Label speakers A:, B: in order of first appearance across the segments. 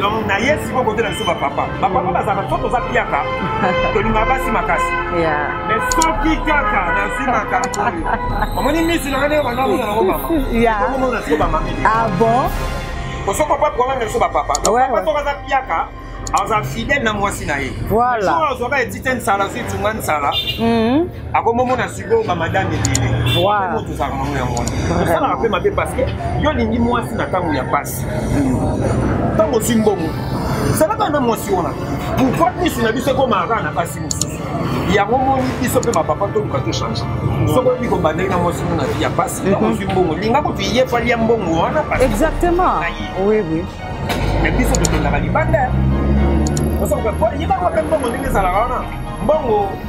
A: donc na ye siko
B: kote na biso bapapa bapapa bazalaka so toza piaka tolingaka basi makasi mais
A: soki
B: kaka nazwi makambo oyo omoni misi nanga ndenge bandaozala ngo mamaomona na
A: siko bamami
B: ah bon
A: osoki papa
B: kwana na biso bapapa soki aza
A: piaka
B: aza fidèle na mwasi na ye azwaka
A: etite
B: nsala azwi tunga nsala mhm. akomomona sikoyo bamadame ebele tozalaka nango yango wana osalaka mpe mabe parce que yo olingi mwasi na ntango ya mpasi ntango ozwi mbongo salaka na mwasi wana pourkoi misu na biso ekomaka na mpasi mosusu yango moni biso mpe bapapa toluka tochange soki oyebi kobandaki na mwasi mona ya mpasi nakozwi mhm. mbongo linga kutu ye fali ya mbongo wana exactement
A: oui oui mais
B: biso tokendaka libanda osakoyebaka mpe mbongo ndenge ezalaka wana mbongo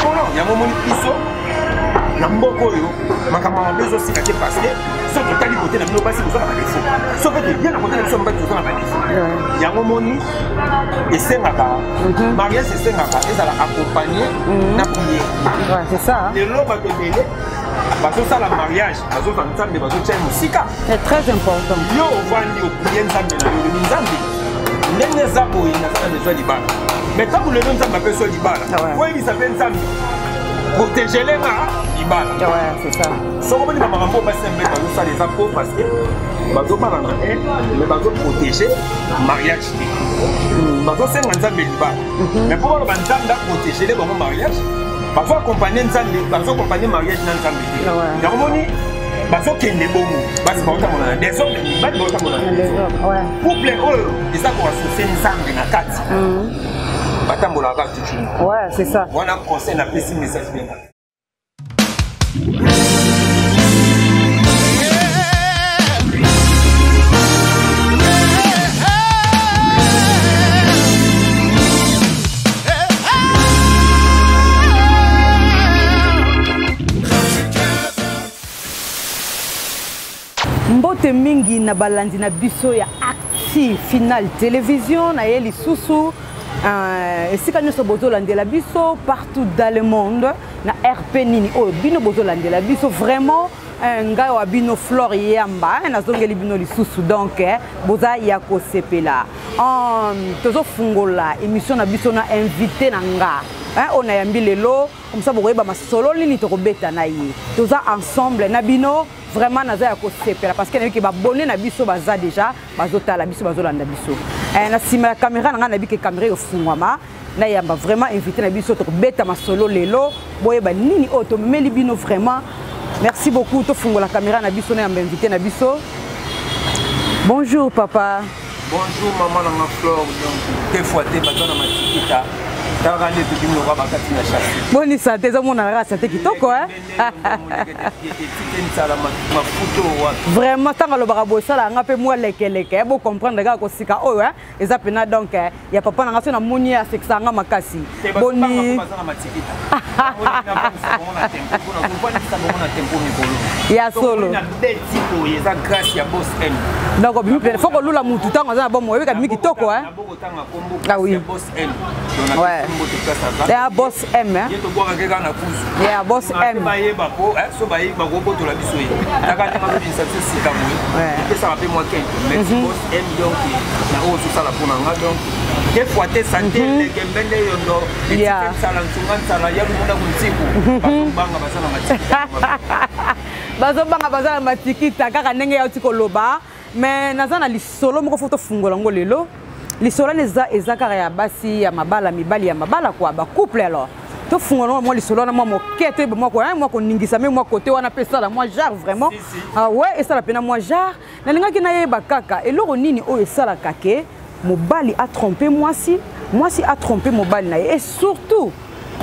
B: mpono yango omoni biso na mboka oyo makambo mabe ezosika te parce que soki totali kote na bino basi boza na badefo soki toye na kote na biso mibali toza na badefo yango moni esengaka mhm. mariage esengaka ezala accompagne mhm. na priere
A: lelo bato ebele
B: bazosala mariage bazozwa nzambe bazotya ye mosika très important
A: yo ovandi
B: opriye nzambe na yo olobi nzambe ndenge eza boye naza na bezwa libala mai ntango lelo nzambe apesi yo libala ah oyebisa mpe nzambe protegele nga libala ah
A: soko boni bamakambo oyo
B: basi mpe bazosala eza po parce que bazobala na e mai bazoprotege mariage te hmm. bazosenga nzambe libala mai mpo baloba nzambe aprotegele bango mariage bazo accompagne nzambe bazo accompagne mariage na nzambe te yango moni bazokende bongo basi baotamona na desordre mibali baotamona na desordre
A: couple
B: oyo eza koasose nzambe na kati mm. batambolaka kaka toujours wana
A: conseil napesi
B: message bena
A: mbote mingi na balandi na biso ya acti final television na ye lisusu euh, esika nyonso bozolandela biso partout dans le monde na rp nini oyo bino bozolandela biso vraiment Eh, ngai wa bino flore yamba eh, nazongeli bino lisusu donc eh, boza ya kosepela um, tozofungola émission na biso na invité na nga oyo nayambi lelo komsa bokoyeba masolo nini tokobeta na ye toza ensemble na bino vraiment naza ya kosepela parce que nayebike babone na biso baza déjà bazotala biso bazolanda biso na nsima ya kamera na ngai nayebike kamera efungwama nayamba vraiment invité na biso tokobeta masolo lelo boyeba nini oyo tomemeli bino vraiment merci beaucoup tofungola caméra na biso nayamba invité na biso
B: bonjour papa bonjour mama nanga flore donc te fois
A: te
B: baza na matikita kaka nde tokimi lokola
A: bakati na chasse boni sante ezomonana kaka sante kitoko etikensala mafuta oyo wapi vraiment ntango alobaka bosala yanga mpe mwa lekeleke bocomprendre kaka kosika oyo eza pena donc eh, ya papa na nga so namoni asekisa nga makasi boni ya solo donc obimi pene fo kolula mutu ntango aza na bomo oyebika bimi kitoko eh? ah oui ouais ya boss m eh? ya boss m bayeba po so bayeba kobotola biso ye taka ndenge azobimisa biso sika boye epesaka mpe mwa kente M donc na oyo osala mpo na nga donc des fois te sante mhm. leke mbende yondo etike nsala nsunga nsala ya lumuna kuntiku mhm. bazobanga baza na matikita bazobanga baza na matikita kaka ndenge yauti koloba mais naza na lisolo moko fo tofungola yango lelo lisolo wana eza eza kaka ya basi ya mabala mibali ya mabala kua bacouple alors tofungola yango mwa lisolo wana mwa moke toyeba mwa koningisa me mwa kote wana mpe esala mwa genre vraiment ah ouais esala mpena mwa genre nalingaki nayeba kaka eloko nini oyo esalaka ke mobali atrompe mwasi mwasi atrompe mobali na ye e surtout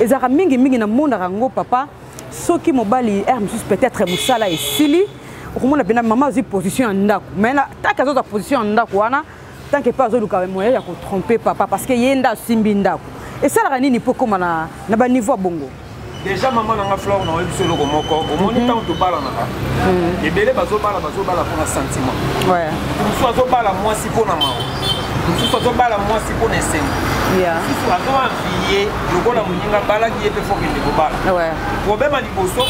A: ezalaka mingimingi namonaka yango papa soki mobali r mosusu peut-être mosala esili okomona mpena mama azwi position ya ndako mai taki azozwa position ya ndako wana tant que pas azoluka moyen ya kotrompe papa parce que ye nde asimbi ndako esalaka nini mpo ekóma na, na baniveau ya bongo déjà mama na
B: nga flore na oyebisi eloko moko omoni ntango mhm. tobalanaka mhm. ebele bazobala bazobala mpona sentiment mosusu
A: azobala
B: mwasi mpo na mawa mosusu azobala mwasi mpo na esengo mosusu
A: azoanviye
B: lokola moninga abalaki ye mpe fokende kobala problème ya
A: liboso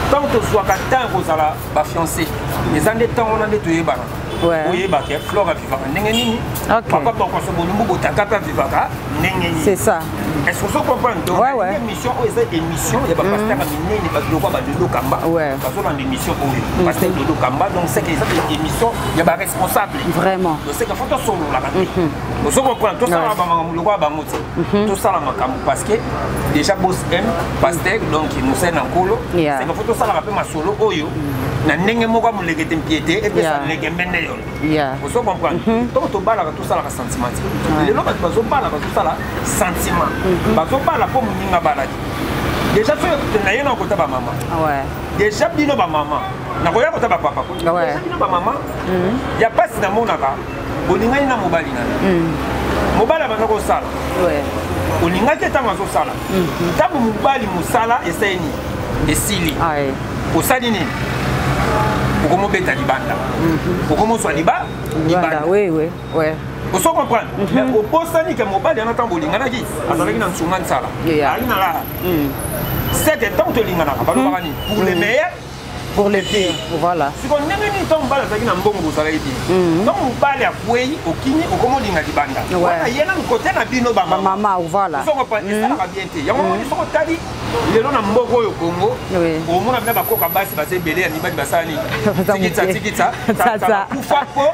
B: ntango tozwaka temps ya kozala bafiance eza nde ntango wana nde toyebanaka oyeba ke
A: flore
B: avivaka ndenge nini papa bokoso bolumbu botaka mpe avivaka ndenge nini c'est ça est ce que
A: ozo comprendre
B: donc émission oyo eza émission ya bapasteur ya minene babiloko ya badodo kamba bazolanda émission oyo mm. pasteur dodo kamba donc seke eza émission ya baresponsable vraiment donc seke fo
A: tosololaka
B: te mm-hmm. ozo comprendre tosala bamakambo lokola bango te mhm. tosala makambo parce que déjà bos m pasteur donc mosali na nkolo seka fo tosalaka mpe masolo oyo mhm. na ndenge moko ya molekete mpie te epesa legembe nde yono ozo comprendre mhm. ntango tobalaka tosalaka sentiment te lelo bato bazobala bazosala sentiment bazobala mpo moninga abalaki déjà soki naye na kota bamama ah déjà
A: bino
B: bamama nakoya kota bapapa déjà bino bamama ya mpasi namonaka olingani na mobali na yo mm. mobali abanda kosala
A: olingaki
B: ntango azosala mm-hmm. ntango mobali mosala esali nini esili ah, eh.
A: osali nini
B: okomobeta libanda mm-hmm. okomozwa liba libanda oso comprendre mhm. mais obosani ke mobali yana ntango bolinganaki azalaki na nsunga nsala azalaki na laa seke ntango tolinganaka balobaka nini pour le mhm. meilleur pour le pire
A: voilà siko ndenge nini ntango
B: mobali azalaki na mbongo bozalaki bien mhm. ntango mobali akwei okimi okoma olinga libanda wana ye nanu kote na bino bamama voilà esalaka
A: mhm. bien
B: te yango moni mhm. soko otali lelo na mboka oyo kongo omona bina bakoka basi baza ebele ya mibali basala nini tikitsa tikitsa kufa po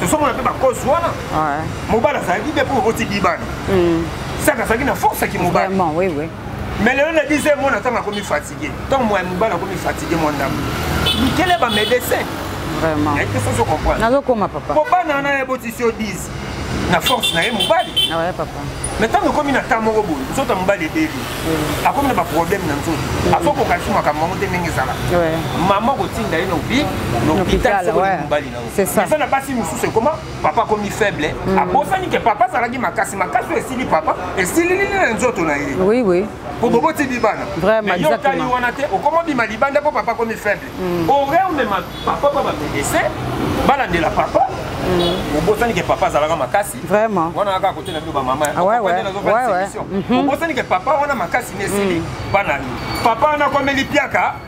B: tosomona
A: mpe bakosi
B: wana mobali
A: azalaki te mpo
B: oboti libani hmm. saka azalaki na force ya kimobali mais
A: lelo na 10
B: heure mwana ntango akomi fatigue ntango moya mobali akomi fatigue mwa ndambo bikele bamedecin nazokoma papa po bana
A: wana ya botisi
B: yo 10 na force na ye mobali ah
A: mais ntango ekomi na
B: temps moko boye nzoto ya mobali ebeli hmm. akomi na baproblème na nzoto hmm. azo kokalisi makambo yango te ndenge ezalaka mama kotinda ye na obi na hôpital soki mobali na eza na basi
A: mosusu ekoma
B: papa akomi faible mm. abosani ke papa azalaki makasi makasi oyo esili papa esililili na nzoto na ye oui, oui. po boboti
A: bibana
B: yokali
A: wana te
B: okoma bima libanda mpo papa akomi faible mm. ore omema papa pa bamedese balandela papa mm. obosani ke papa azalaka makasi wana kaka
A: kote
B: na bino bamama obosani ke papa wana makasi na esili bana papa wana akomeli piaka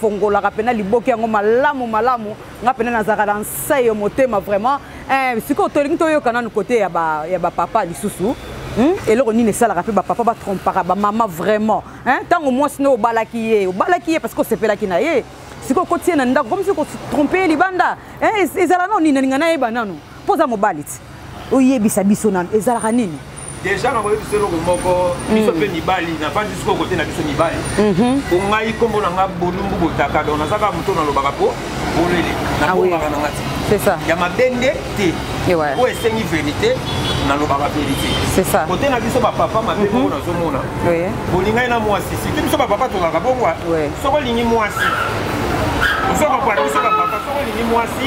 A: fongolaka mpena liboki yango malamu malamu nga mpena nazalaka na nse yo motema vraiment eh, sikoyo tolingi toyoka nanu kote ya bapapa ba lisusu Hmm? eloko nini esalaka mpe bapapa batrompaka bamama vraiment ntango mwasi nde obalaki ye obalaki ye parce que osepelaki na ye sikoyo kotie na ndako komisi kotrompe ye libanda ezala nao nini nalinga nayeba nanu mpo oza mobali ti oyebisa biso nanu ezalaka nini deja na koyebisa
B: eloko moko biso mpe mm. mibali nafandi sikoyo kote na biso mibali po mhm. ngai nkombo na ngai bolumbu botaka don nazaka moto nalobaka po bolele ah nabongaka na ngai te ya mabe
A: nde te
B: oyo esengi verité nalobaka verité kote na biso
A: bapapa
B: mabe mhm. moko nazomona bolingai na mwasi site biso bapapa tokaka bongo soko olingi mwasi ozokokwata biso bapapa soko olingi mwasi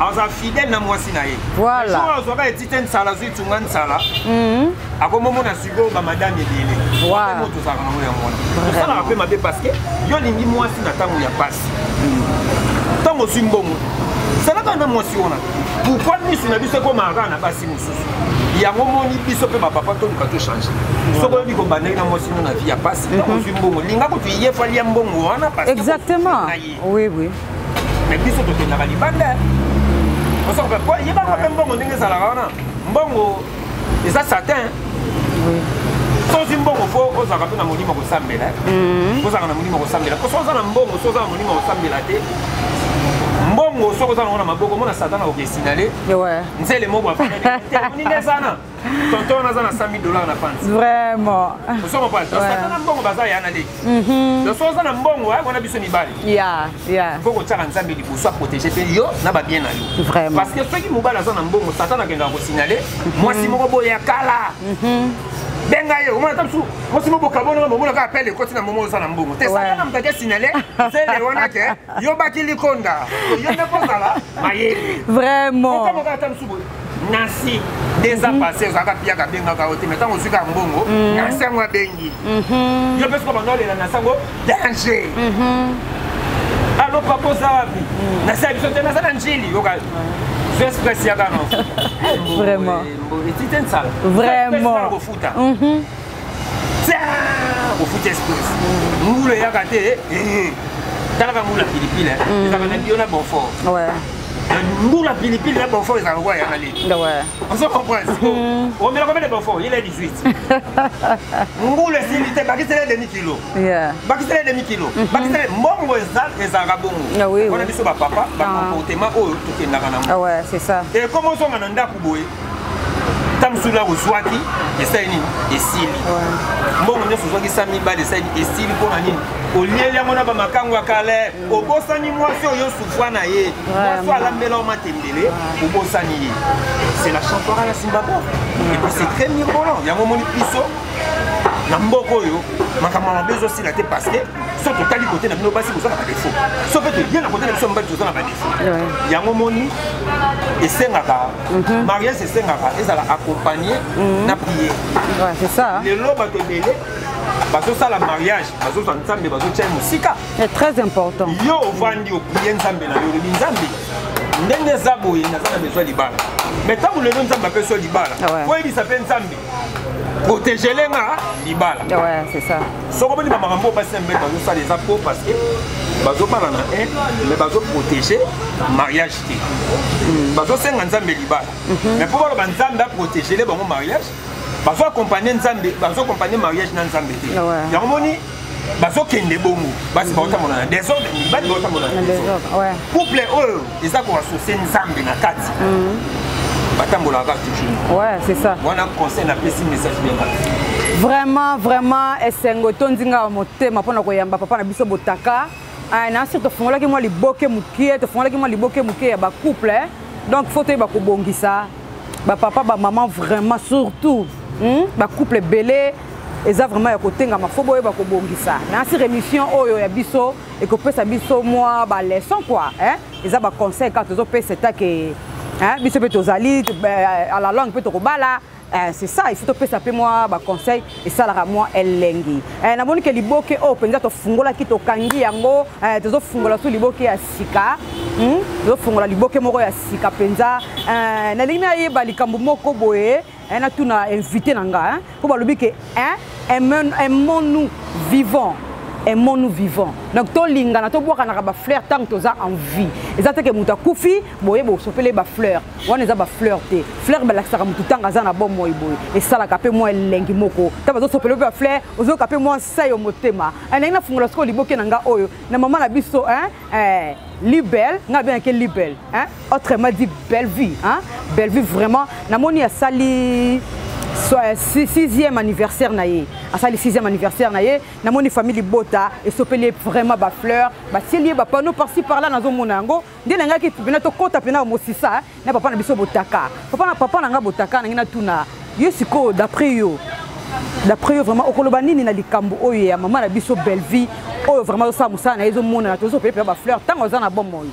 B: aza fidèle na mwasi na ye voilà jour azwaka etite nsala azwi tunga nsala mhm. akomomona sikoyo bamadame ebele wape moto ozalaka nango yango wana osalaka mpe mabe parce que yo olingi mwasi na ntango ya mpasi ntango ozwi mbongo salaka na mwasi wana pourkoi misu na biso ekomaka na basi mosusu yango moni biso mpe bapapa toluka tochange soki oyebi kobandaki na mwasi no na vie ya mpasi ntango mhm. ozwi mbongo linga kutu yefalia mbongo wana exactement
A: Oui, oui. Mais
B: biso tokendaka libanda. Osa ko po yeba ko mbongo ndenge ezalaka wana. Mbongo eza certain. Oui. soki mbongo fo ozalaka mpe na molimo kosambela mhm. ozalaka na molimo kosambela po soki oza na mbongo soki oza na molimo kosambela te mbongo soki oza nango na maboko mona satana okesinale nzele moko afanani eza na tonton wana aza na 100000 dollars na panzi vraiment ozo
A: comprendre donc satan
B: na mbongo baza ya na leki mhm. donc soki oza na mbongo ya kona biso mibali ya ya faut kotyaka nzambe liboso aprotéger mpe yo na babien na yo vraiment parce que soki mobali aza na mbongo satan akendaka kosignale mhm. mwasi moko boye ya kala mhm. benga ye omona ta mosusu mwasi moko bokabonaka momona kaka pele ekoti na momo oza na mbongo te saka na moto ake signale zele wana ke yobaki likonda yo nde kozala mayele vraiment okamokaka
A: ta mosusu boye
B: nasi deux ans mhm. passé ozalaka piyaka abengaka yo te mai ntango ozwika mbongo mhm. nasi yango abengi mhm. yo mpe soki banda olela nasi yango danger alo papa oza wapi nasi ya biso te naza na njili yoka express yaka no vraiment
A: etite
B: nsala vraiment ofuti espèce mbula eyaka te eh, eh. talaka mbula pilipile mm. ezaka na bio na bonfort mbula pilipili na bonfort ezaka lokola yanga leki ozo comprendre mm. omela combien de bonfort il est 18 mbula esili te bakisela demi kilo bakisela demi kilo mm-hmm. bakisela mbongo ezalaka bongo ah wana biso bapapa bacomportement ah. oyo tokendaka nango ah ekoma
A: ozonga na ndako
B: boye ta mosusu nako ozwaki esali nini esili mbongo nyonso ozwaki sa mibale esali esili mpo na nini olieli yango na bamakango ya kale mm. obosani mwasi oyo osufwa na ye mwasi alambela yo matembele obosani ye c'est la champiora ya simbabwe mm. epa c'est très mirbolant yango omoni biso na mboka oyo makambo ya mabe ezosila te parce que so totali kote na bino basi boza na badefo so mpe toye na kote na biso mobali toza na badefo yango moni esengaka Mhm. mariage esengaka ezala accompagne mhm. na priere lelo bato ebele bazosala mariage bazozwa nzambe bazotya ye mosika très important
A: yo ovandi
B: oprie nzambe na yo olobi nzambe ndenge eza boye naza na bezwa libala mai ntango lelo nzambe apesi yo libala ah oyebisa mpe nzambe protégele nga libala ah
A: soko boni bamakambo
B: basi na mbele bazosala eza po parce que bazobala na un mais bazoprotege mariage te bazosenga nzambe libala mhm. mais mpo baloba nzambe aprotégele bango mariage bazo accompagne nzambe bazo accompagne mariage na nzambe te yango moni bazokende bongo basi baotambola na desordre mibali baotambola na desordre couple oyo eza koasocie nzambe na kati mhm. batambolaka kaka toujours ouais c'est ça wana
A: conseil napesi
B: message bien vraiment
A: vraiment esengo etondi ngai motema mpo na koyamba papa na biso botaka Ah, na sir tofungolaki mwa liboke mokie tofungolaki mwa liboke mokie ya bacouple eh. donc faut toyeba kobongisa bapapa bamama vraiment surtout hmm? bacouple ebele eza vraiment ya kotengama fo boyeba kobongisa na sir émission oyo ya biso ekopesa biso mwa baleçon kua eh? eza baconseil kaka tozopesa etake eh? biso mpe tozali eh, à la langue mpe tokobala Eh, c'est ça il faut topesa mpe mwa baconseil esalaka mwa elengi eh, namoni ke liboke oyo oh, mpenza tofungolaki tokangi yango eh, tozofungola so liboke ya sika hmm? tozofungola liboke moko ya sika mpenza eh, nalingi nayeba likambo moko boye eh, natuna invité na nga mpo eh, balobi ke eh, aimons nous vivant aimons nous vivant donc tolingana tobwakanaka bafleur ntango toza en vie eza te ke moto akufi boye bosopele bafleur wana eza bafleur te fleur balakisaka motu ntango aza na bomoi boye esalaka mpe mwa elengi moko ntango azosopela mpe bafleur ozoyoka mpe mwa nsayo motema elingi nafungola sikoyo liboke na nga oyo na mama na biso eh, libel ngai abengaki libel autrement dit bellevue bellevue vraiment namoni asali Euh, sixième anniversaire na ye asali sixième anniversaire na ye namoni famille libota esopeli ye vraiment bafleur batieli ye bapanneau parci par là nazomona yango nde nangaki mpena tokɔta mpena mosisa na papa na biso botaka papa na papa na ngai botaka nangi natuna yo sikoyo d'après yo d'après yo vraiment okoloba nini na likambo oyo ya mama na biso bellevie oyo vraiment osala mosala na ye ezomonana tozopele mpena bafleur ntango aza na bomoi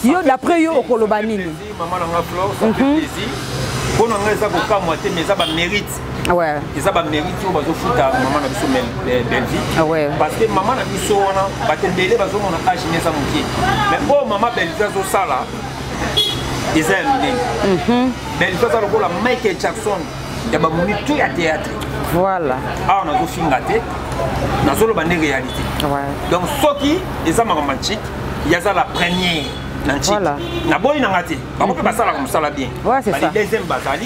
A: yo d'après yo okoloba nini
B: mpo na ngai eza kokamwa te mais eza bamérite ouais. eza
A: bamérite oyo
B: bazofuta mama na biso eh, belvi ah ouais. parce que mama
A: na biso
B: wana bato ebele bazomona age ne eza moke mais oyo mama belvi azosala eza ya minene mhm. belvi aza lokola michael jackson ya bamomi to ya théâtre voilà
A: awa nazofinga
B: te nazoloba nde réalité donc soki eza makambo ya ntike yaza la première na ntike naboyi na nga te bango mpe mhm. basalaka mosala bien bali deuxième
A: bazali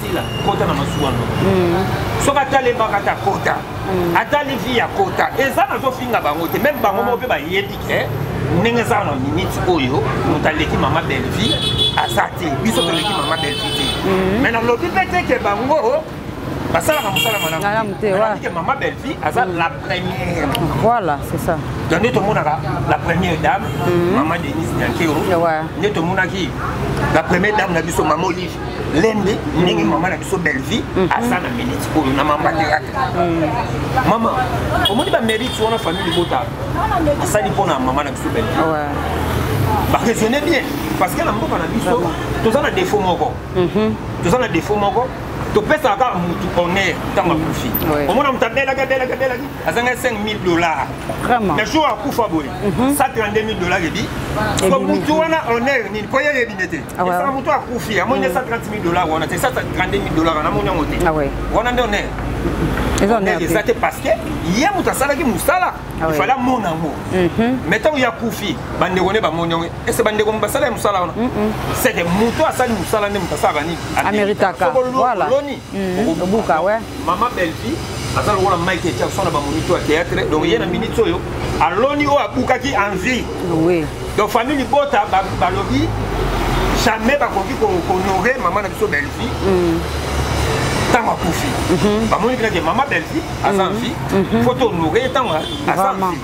B: sila kota na masuwa no mm. soki atali ebaka ta kota mm. atali vi ya kota eza nazofinga bango te meme bango moko mpe ah. bayebi ke ndenge eza na miniti oyo moto aleki mama belvie aza te biso toleki mama belvie te mm. mai nalobi mpe te ke bango basalaka mosala malamu te mama belvie aza première. Voilà,
A: c'est ça. Donc, nous avons
B: la première dame, mm. Maman Denise Nyankero. Ouais. Nous avons la première dame, la biso Maman Olive. Lende, ndenge maman na biso Bellevue, mhm. asa na minute oyo na maman théâtre. Mhm. Maman, omoni ba mérite wana famille libota. Asali pona maman na biso Bellevue. Ouais. Ba raisonner bien parce que na mboka na biso toza na défaut moko. Mhm. Toza na défaut moko. topesaka kaka motu honneur ntango akufi omona motu abelaki abelaki abelaki azangaki 5000 dollars mais jour akufa boye 132000 dollars ebi po motu wana honneur nini po ye yebi nde te esaka motu akufi amoni nde 130000 dollars wana te 132000 dollars wana amoni yango te wana nde honneur honneur eza te parce que ye motu asalaki mosala ifale amona yango mais ntango ye akufi bandeko nde bamoni yango ese bandeko basala ya mosala wana seke moto asali mosala nde moto asalaka nini ameritakaoloni
A: mm. obuka we mama belvi
B: aza lokola mike jackson na bamonito ya théâtre donc ye na minute oyo aloni oyo abukaki en vie donc famille libota balobi jamais bakoki kohonore mama na biso belvi mm. ntango akufi mhm. bamoni kinake mama belvi aza en mhm. vie mhm. fo tohonore ye ntango aza en vie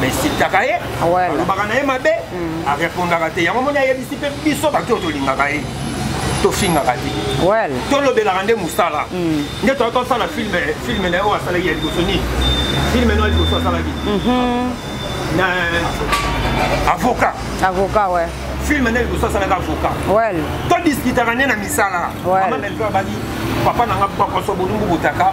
B: mais esitaka ye alobaka na ye
A: mabe
B: mm. arepondaka te yango moni ayebisi mpe biso bato oyo tolingaka ye tofingaka te tolobelaka
A: nde
B: mosala mm. nde toyaki osala filme filme na ye oyo asalaki ya liboso nini filme na liboso asalaki mhm. na avocat avocat
A: ouais filme nde liboso
B: asalaka avocat
A: todiskitaka nde
B: na misala mama melveur abaki papa na nga bakoso bolumbu botaka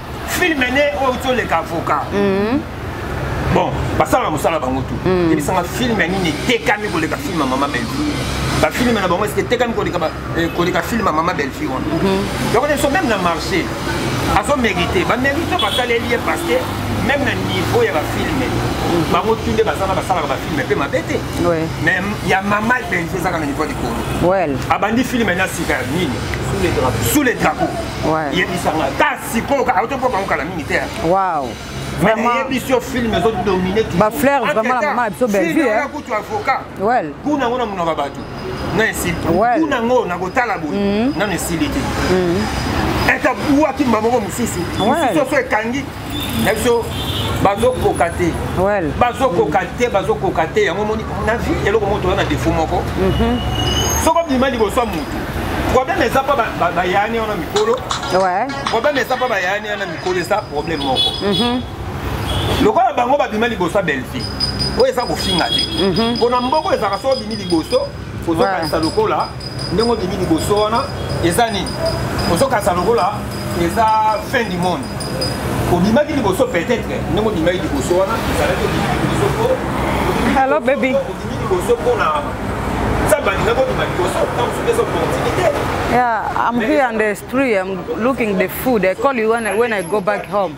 A: filme ne
B: oyo uti oleka avocat mhm. bon basala na mosala bango tu mhm. yebisanga filme nini etekami koleka filme ya mama bellevue bafilme na bango esike etekami koleka eh, filme ya mama bellevue wana mhm. donc so meme na marché azomérite bamérite basaleli ye parce que même na niveau ya bafilme bango tu nde baza na basalaka bafilme mpe mabe te mais ya mama bellevue ezaka na niveau likolo abandi filme na sika ya nini sous le drapeau yebisa nga ka sikoyo ka auto mpo bango kala mingi te wow vraiment yebisi yo film ezo domine ba fleur vraiment la maman biso bellevue hein kutu avocat well kuna ngona munaka batu na esili kuna ngo na kotala boye mm-hmm. na esili te mm-hmm. etabuaki mbamoko mosusu mosusu oso ekangi na biso bazokoka te bazokoka te bazokoka te yango moni na vie eloko moko toza na defo moko mhm. soko bima liboso ya motu problème eza mpo bayani wana mikolo problème eza mpo bayani wana mikolo eza problème moko mhm. lokola bango babima liboso ya belfi oyo eza kofinga te mpona mhm. mboko ezalaka soko obimi liboso ozokanisa lokola ndenge obimi liboso wana eza nini ozokasa lokola eza fin du monde obimaki liboso peut-être ndenge obimaki liboso wana ezalaki obimi liboso po Hello, baby. obimi liboso mpona nzambe alingaki obima liboso ntango soki eza
A: opportunité Yeah, I'm here on the street. I'm looking the food. I call you when I, when I go back home.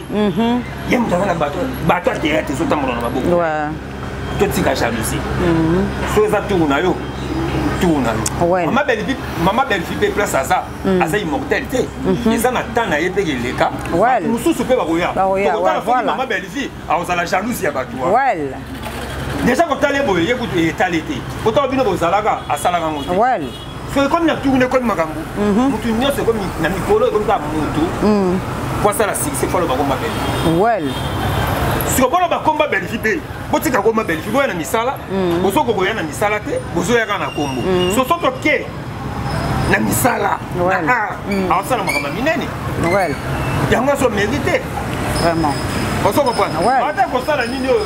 A: mhm. ye moto aza na bato bato ya teyate ezotambola na maboko totika jalousie
B: mhm. so eza tour na yo tour na yo mama belfi mama belfi mpe place aza mm. aza immortel te mhm. eza na temps na ye mpe keleka mosusu mpe
A: bakoya
B: tokotala soki mama belfi akozala jalouse ya bato
A: deja
B: kotala ye boye ye kutu etali te kotala bino bozalaka asalaka yango te
A: soki ekomi na
B: tourne ekomi makambo mhm. motu nyonso ekomi na mikolo ekomi kaka motu mhm. po asala sikise fo aloba komba bele wel
A: siko
B: boloba komba belgi te botika komba belgi boya na misala mhm. bozoko boya na misala te bozoya kaka na kombo soso toke na misala na
A: art aosala
B: makambo ya minene
A: yango azo
B: mérite vraiment
A: ozo
B: comprendre ata kosala
A: nini
B: oyo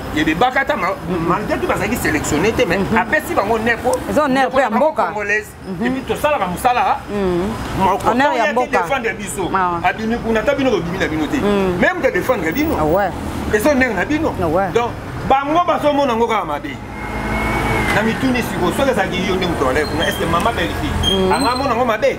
B: et de bakata malgré tout bazalaki sélectionné te mais mhm. apesi bango neko eza honneur mpo ya mboka
A: congolaise mhm. epuis
B: tosalaka mosala honneur
A: ya mboka défendre biso
B: ah. abimi kuna ata bino bobimi na bino te mhm. même te défendre bino ah eza honneur
A: na bino
B: ah donc bango bazomona yango kaka mabe na mituni siko soki ezalaki yo nde moto alai kuna estce mama belfi anga amona yango mabe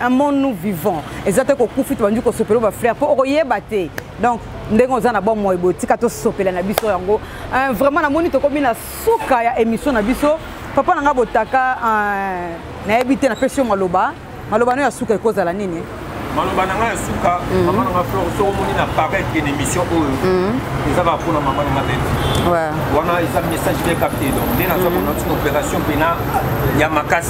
B: amon nous vivant eza te kokufi tobandi kosopela ba frère mpo okoyeba te donc ndenge oza na bomoi boye tika tosopela na biso yango euh, vraiment namoni tokomi na suka ya émission na biso papa na ngai botaka euh, nayebi te napesi yo maloba maloba no ya suka ekozala nini maloba na ngai ya suka mhm. mama na ngai flor soki omoni na paret ke na émission oyo mhm. eza baa mpona mama na ngai beti wana eza message bien capté donc nde naza mhm. kona tina opération mpena ya makasi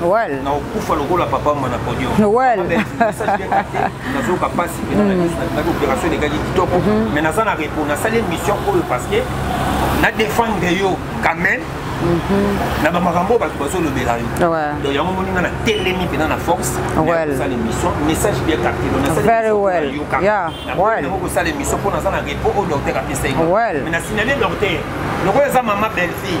B: Noël. Na okufa lokola papa mwana podium. Noël. Nazoka pasi pe na mm. na opération de gagi kitoko mm-hmm. mais naza na repos na sale mission oyo parce que na défendre yo quand même mm-hmm. na bamakambo bato bazolobela yo donc yango moni nga na telemi mpena na force osala émission message bien captelonasalyango kosala émission mpo naza na repos oyo docteur apesa ye mais na signale docteur lokola eza mama bellefille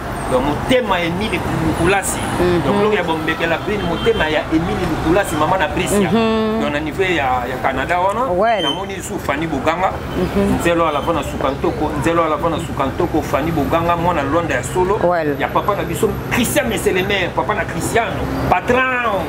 B: donc motema ya emile lukulasi mhm. donc lokola bombekela beni motema ya emile lukulasi mama na brisia mhm. donc na niveau ya, ya canada wana well. namoni lisusu fani boganga mhm. nzelo alava na suka ntoko nzelo alava na suka ntoko fani boganga mwana lwanda ya solo well. ya papa na biso christian meselemer papa na christiano patron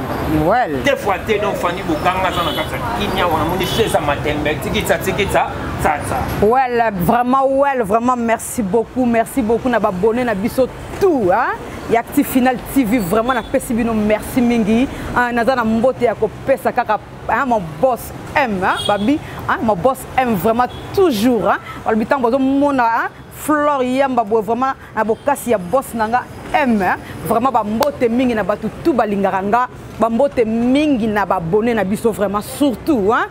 B: well. te fois te donc fani boganga aza na kati ya kimia wana moni feza matembe tikitsa tikitsa tsatsa well
A: vraiment well vraiment merci Merci beaucoup, merci beaucoup na babone na biso tout hein? ya Acti Final TV vraiment na pesi bino merci mingi hein? naza na mbote ya kopesa kaka hein? mon boss M hein? babi hein? mon boss M vraiment toujours hein? balobi ntango bazomona hein? Flore Yamba boye vraiment na bokasi ya boss na nga M hein? vraiment bambote mingi na bato tout balingaka nga bambote mingi na babone na biso vraiment surtout hein?